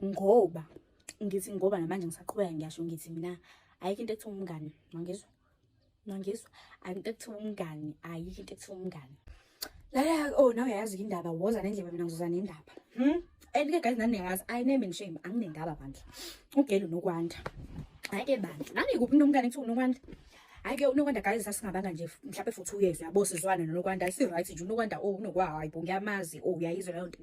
ngoba ngithi ngoba namanje ngisaqhubeka ngiyasho ngithi mina ayikho into ekuthiwa umngane mangizwa mangizwa ayikho into ekuthiwa umngane ayikho into ekuthiwa umngane lala oh nawe uyayazi indaba woza nendlebe mina ngizoza nendaba hmm and ke guys nani niyazi i name and shame anginendaba bandla ugelo nokwanda hayi ke bandla nani kuphi nomngane kuthiwa nokwanda hayi ke unokwanda guys sasingabanga nje mhlawumbe for 2 years yabo sizwana nokwanda si right nje unokwanda oh unokwa hayi bo ngiyamazi oh uyayizwa leyo nto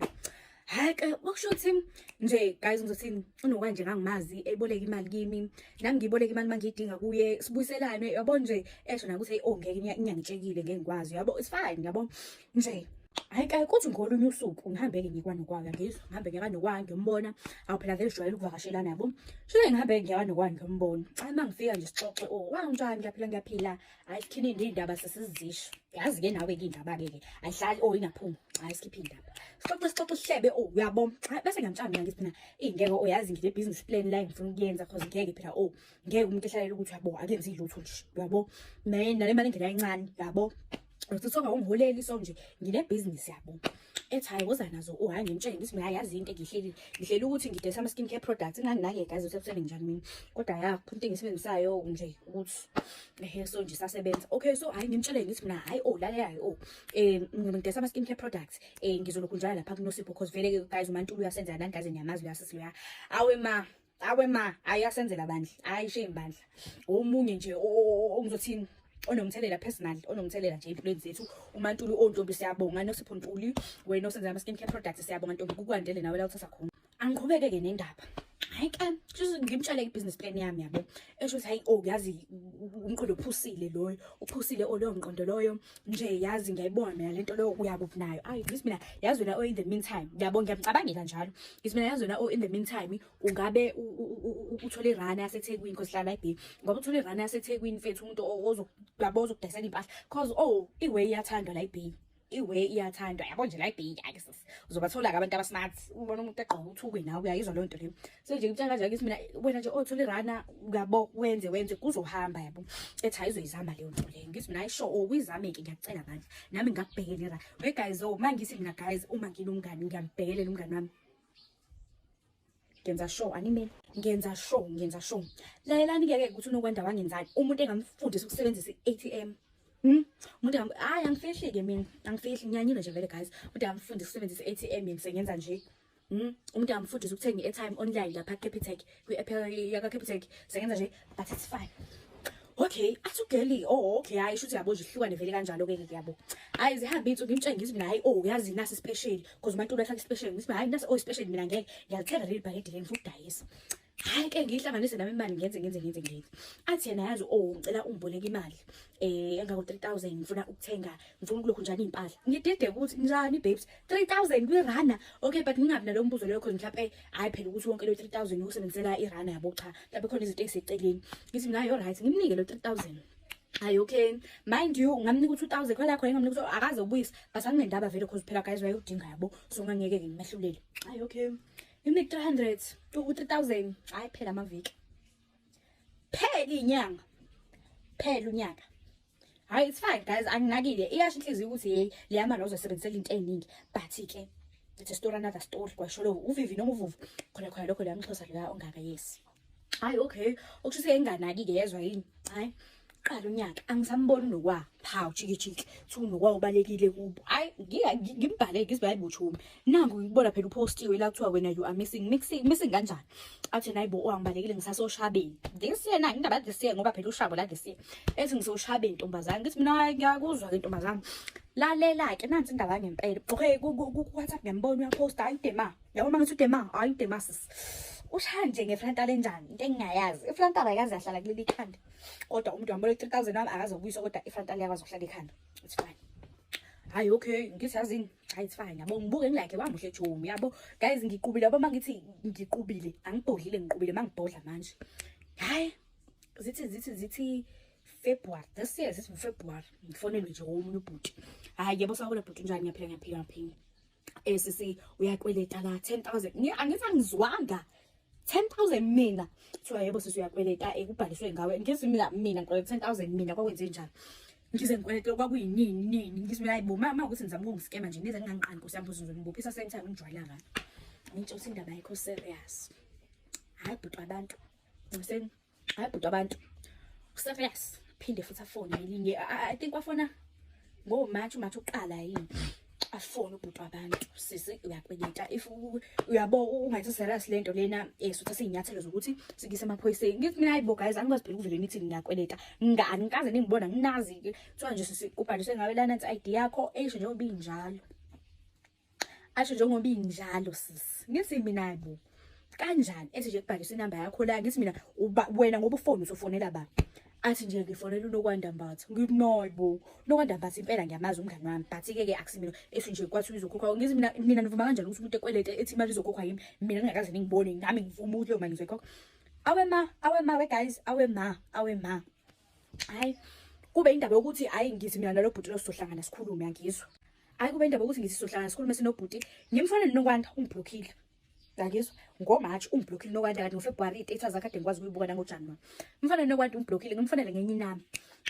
hayi ke kwakusho ukuthi nje guys ngizothini unokwanje ngangimazi eboleka imali kimi nami ngiboleka imali mangiyidinga kuye sibuyiselane yabo nje esho nakuthi hey oh ngeke inyangitshekile ngeke ngikwazi yabo it's fine yabo nje hayi kayi kuthi ngolunye usuku ngihambeke ngikwanokwanga ngizwa ngihambe ngekanokwanga ngiyombona awu phela vele jwayele ukuvakashela nabo shile ngihambe ngiyakanokwanga ngiyombona hayi uma ngifika nje sixoxe o oh, wanginjani ngiyaphila ngiyaphila hayi sikhiphe nje indaba sesizisho yazi ke nawe ke indaba ke ke ayihlali oh ingaphuma hayi sikhiphe indaba sixoxe sixoxe sihlebe oh uyabo bese ngiyamtshana mina ngithi phina ingeke oyazi oh, ngide business plan la ngifuna ukuyenza cause ngeke phela oh ngeke umuntu ehlalela ukuthi yabo akenzi lutho nje uyabo mina nale mali ngena incane yabo uthi songa ungholeli so nje ngine business yabo ethi hayi woza nazo uhayi ngimtshele ukuthi mina yazi into engihleli ngihleli ukuthi ngidayisa ama skin care products nganginake guys usekusele njani mina kodwa ya into engisebenzisayo nje ukuthi ehe so nje sasebenza okay so hayi ngimtshele ngithi mina hayi oh lalela hayi oh eh ngidayisa ama skin care products eh ngizoloku njalo lapha kunosipho because vele guys uMantulu uyasenza nani guys niyamazi uyasisi uya awe ma awe ma hayi asenzela bandla hayi shame bandla omunye nje ongizothini onomthelela personal onomthelela nje empilweni zethu umantuli ontombi siyabonga nosipho ntuli wena osenza ama skin care products siyabonga ntombi kukwandele nawe la uthatha khona angiqhubeke ke nendaba hayi ke just ngimtshale ibusiness plan yami yabo esho ukuthi hayi oh yazi umqondo uphusile loyo uphusile oloyo mqondo loyo nje yazi ngiyayibona mina lento leyo uyakuphi nayo ayi ngithi mina yazi wena o in the meantime ngiyabona ngiyamcabangela njalo ngithi mina yazi wena o in the meantime ungabe uthole irana yasethekwini because hlala ibhe ngoba uthole irana yasethekwini mfethu umuntu ozokuyabo ozokudayisela impahla cause oh iway iyathandwa la ibhe iway iyathandwa yabo nje la ibhe yake sis uzobathola-ke abantu abasmart ubona umuntu egqoka uthukwe nawe uyayizwa leyo nto leyo so nje kutshela kanjani ukuthi mina wena nje othula irana uyabo wenze wenze kuzohamba yabo ethi hayi uzoyizama leyo nto leyo ngithi mina ayisho oh, uyizame-ke ngiyacela bandla nami ngingakubhekela irana we guys o oh, uma ngithi mina guys uma nginomngani ngiyambhekelela umngani wami ngenza show anime ngenza show ngenza show lalelani ke ke ukuthi unokwanda wangenzani umuntu engamfundisa ukusebenzisa i-atm Hmm? umuntu hayi angifihli-ke mina angifihli ngiyanyile nje vele guys umuntu angifundisa ukusebenzisa i-atm yena sengenza nje Mm, umuntu angamfundisa ukuthenga i-airtime online lapha Capitec kwi-app yaka Capitec sengenza nje but it's fine okay athi ugeli oh okay hayi shuthi yabo zihlukane vele kanjalo ke ke yabo hayi zihambe insuku ngimtshenge ngithi mina hayi oh uyazi nasi special because umuntu uyahlaka special ngithi hayi nasi oh special mina ngeke ngiyalithenga leli bhakede leli ngifuna ukudayisa hayi ke ngiyihlanganise nami imali ngenze ngenze ngenze ngenze athi yena yazi oh ngicela ungiboleke imali eh engako 3000 ngifuna ukuthenga ngifuna ukulokhu njani impahla ngidede ukuthi njani babes 3000 kuyirana okay but ngingabi nalombuzo leyo khona mhlawumbe hayi phela ukuthi wonke lo 3000 usebenzela irana yabo cha mhlawumbe khona izinto eziseceleni ngithi mina yo right ngimnike lo 3000 hayi okay mind you ngamnika u-two thousand khona khona ngamnika ukuthi akaze ubuyise but anginendaba vele cause phela guys wayewudinga yabo so ngangeke-ke ngimehlulele hayi okay Imik 300 u 3000 hayi phela amaviki. Phela inyanga. Phela unyaka. Hayi it's fine guys anginakile iyasho inhliziyo ukuthi hey leyama lozo sebenzisela into eningi but ke it's a story another story kwasho lo uvivi noma uvuvu khona khona lokho leyamxhosa la ongaka yes. hayi okay okusho ukuthi enganaki-ke yezwa yini hayi qala unyaka angisamboni nokwa phawu chikijiki thi unokwa ubalekile kubo hayi ngimbhale ngizibhale bothumi nangu ngikubona phela upostiwe la kuthiwa wena you are missing mixing missing kanjani athi nayi bo angibalekile ngisasoshabeni this year na indaba this year ngoba phela ushabo la this year ethi ngisoshabeni ntombazane ngithi mina ngiyakuzwa ke ntombazane lalela ke nansi indaba ngempela okay ku WhatsApp ngembona uyaposta ayidema yabo uma ngithi udema hayi udema sis ushaya nje ngeflantala enjani into engingayazi iflantala ayikaze yahlala kuleli ikhanda kodwa umuntu wambona 3000 wami akazokuyisa kodwa iflantala yakwazi ukuhlala ikhanda it's fine hayi okay ngithi yazini hayi it's fine yabo ngibuke ngilike wamuhle jomi yabo guys ngiqubile yabo mangithi ngiqubile angibhodlile ngiqubile mangibhodla manje hayi zithi zithi zithi February this year is February ngifonelwe nje omunye ubhuti hayi yabo sawula bhuti njani ngiyaphila ngiyaphila ngiyaphila eh sisi uyakweleta la 10000 ngi angithi angizwanga 10000 mina kuthiwa yebo sisi uyakweleta ekubhaliswe eh, ngawe ngithi mina mina ngikweleta 10000 mina kwakwenze njani ngize ngikweleta kwakuyinini nini ngithi mina hayibo mama ukuthi ngizama ukungiskema nje nize nginganqani nkosi yami ukuthi ngizonibophisa same time ngijwayela ngani ngitsho ukuthi indaba ayikho serious hayi bhuti abantu ngiseni hayi bhuti abantu serious phinde futhi afone ngelinye i think wafona ngo March uMarch uqala yini afone ubhuti wabantu sisi uyakweleta if uyabo ungathi serious lento lena esutha eh, sinyathelo zokuthi sikise emaphoyiseni ngithi mina hayibo guys angikwazi phela ukuvela imithi ngiyakweleta ngani ngikaze ningibona nginazi ke kuthiwa nje sisi ubhaliswe ngawe lana nsi ID yakho esho njengoba injalo asho njengoba injalo sisi ngithi mina bo kanjani ethi nje kubhalisa inamba yakho la ngithi mina uba wena ngoba ufone usofonela ba athi nje ngifonela unokwanda mbatha ngithi no bo nokwanda mbatha impela ngiyamazi umngane wami but ke ke akusimina ethi nje kwathi uzokhokha ngithi mina mina nivuma kanjani ukuthi umuntu ekwelete ethi imali izokhokha yimi mina ngingakaze ngibone nami ngivuma ukuthi leyo mali ngizoyikhokha awe ma awe ma we guys awe ma awe ma hayi kube indaba yokuthi hayi ngithi mina nalobhuti lo sizohlangana sikhulume angizwa Hayi kube indaba ukuthi ngithi sohlala sikhulume sinobhuti. Ngimfana nokwanda ungiblockile. Ngakizwa ngoMarch ungiblockile nokwanda kanti ngoFebruary idata zakhe kade ngikwazi ukuyibuka nangoJanuary. Mfana nokwanda ungiblockile ngimfanele ngenye inami.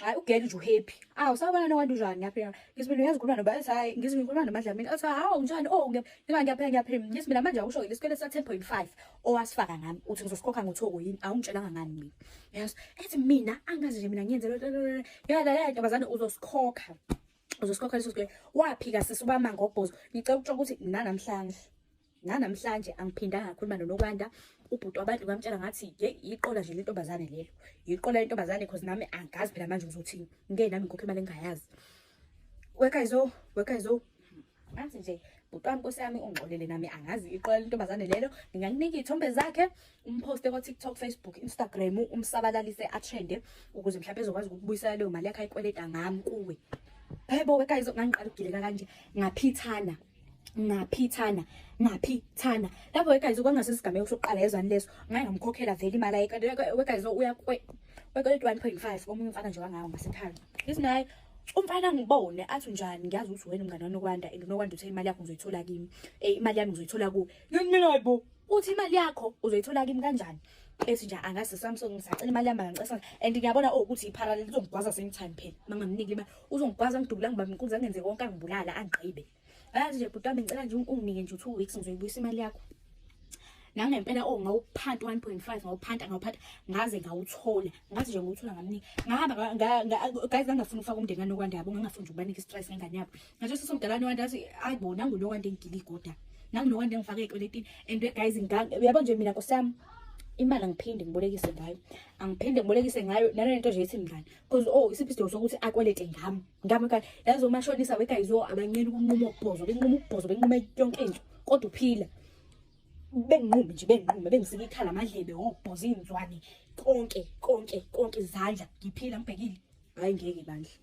Hayi ugele nje uhappy. Awu sabana nokwanda unjani yaphi? Ngisibili uyazikhuluma noba ethi hayi ngisibili ngikhuluma noMadlamini. Athi hawu unjani? Oh ngiba ngiyaphela ngiyaphela. Ngisibili manje awusho lesikwele sa 10.5 owasifaka ngami uthi ngizosikhokha ngothoko yini? Awungitshelanga ngani mina. Yes. Ethi mina angazi nje mina ngiyenze lo. Yala la ntombazane uzosikhokha. uzosikhokhela leso sikweletu waphika sisi ubama ngobhozo ngicela ukutshela ukuthi nanamhlanje nanamhlanje angiphindanga ngakhuluma nonokwanda ubhuti wabantu ngamtshela ngathi ye yiqola nje lentombazane lelo yiqola lentombazane cause nami angazi phela manje uzothini ngeke nami ngikhokhe imali engingayazi wekayizo wekayizo ngathi nje bhuti wami nkosi yami ungixolele nami angazi iqola lentombazane lelo ngingakunika iy'thombe zakhe umphoste ko-tiktok facebook instagram umsabalalise atrende ukuze mhlawumbe ezokwazi ukubuyisela leyo mali yakhe ayikweleta ngami kuwe hebo wekayizo ngangiqala ukugileka kanje ngaphithana ngaphithana ngaphithana lapho wekayizo kwangasesigameko sokuqala yezwani leso ngaye ngamkhokhela vele imali ayekade wekayizo uya kwe-one point five omunye umfana nje wangawo ngasekhaya isinaye umfana ngibone athi njani ngiyazi ukuthi wena umngane wanokwanda and unokwanda uthe imali yakho ngizoyithola kimi eh imali yami ngizoyithola ku yini mina hayibo uthi imali yakho uzoyithola kimi kanjani ethi nje angazi Samsung ngisacela imali yami ngicela and ngiyabona oh, ukuthi iparallel izongigwaza same time phela mangamniki imali uzongigwaza ngidubula ngibamnkunzi angenze konke angibulala angigqibe Yazi nje bhuti wami ngicela nje unginike nje u-two weeks ngizoyibuyisa imali yakho. Nangempela o oh, ngawuphanta 1.5 ngawuphanta ngawuphanta ngaze ngawuthola. Ngathi nje ngawuthola ngamnika. Ngahamba guys ngangafuni ukufaka umndeni wami okwanda yabo ngangafuni nje ukubanika i-stress ngengane yabo. Ngathi sesomdala wami wanda athi ayibo nangu lo wanda engigile igoda. Nangu lo wanda engifake ekweletini and guys nganga yabo nje mina nkosiyami imali angiphinde ngibolekise ngayo angiphinde ngibolekise ngayo nalento nje ethi mngani because oh isiphi isidingo sokuthi akwelete ngami ngami ka yazi umashonisa weguys yo abancela ukunquma ukubhozo benquma ukubhozo benquma yonke into kodwa uphila benginqumi nje benginqumi bengisika ikhala amadlebe wobhoza iy'nzwane konke konke konke izandla ngiphila ngibhekile hhayi ngeke bandla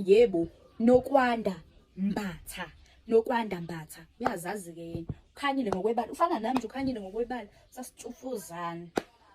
yebo nokwanda mbatha nokwanda mbatha uyazazi-ke yena ukhanyile ngokwebala ufana nami nje ukhanyile ngokwebala sasitshufuzana